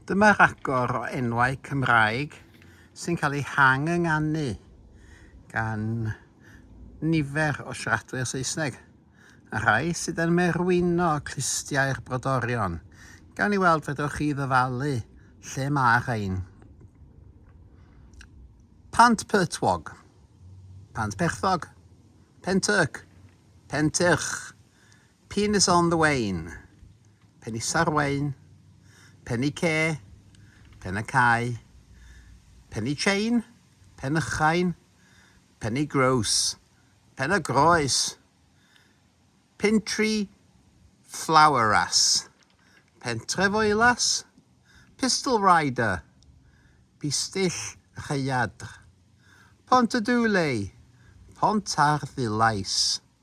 Dyma ragor o enwau Cymraeg sy'n cael eu hang-ynganu gan nifer o siaradwyr Saesneg, a rhai sydd yn merwino clustiau'r brodorion. Gawn ni weld fedrwch chi ddyfalu lle mae rhain. Pant Pertwog, Pant Perthog, Pentyrc, Pentyrch, Pin is on the wane, pen is ar wain, pen y ce, pen y cae, pen y chain, pen y chain, pen y groes, pen y groes, pin tri, flower ras, pentref oelas, pistol rider, pistyll rhaeadr, pont y dulei, pont ar ddulais.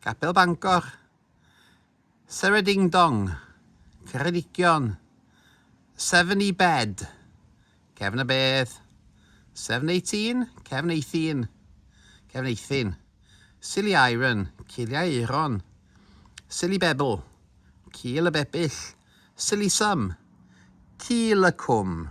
Capel Bangor, Sere Ding Dong, Ceredigion, Seven E Bed, Cefn y Bedd, Seven Eighteen, Cefn Eithin, Cefn Eithin, Silly Iron, Ciliau Euron, Silly Bebl, Cil y Bebyll, Silly Sum, Cil y Cwm.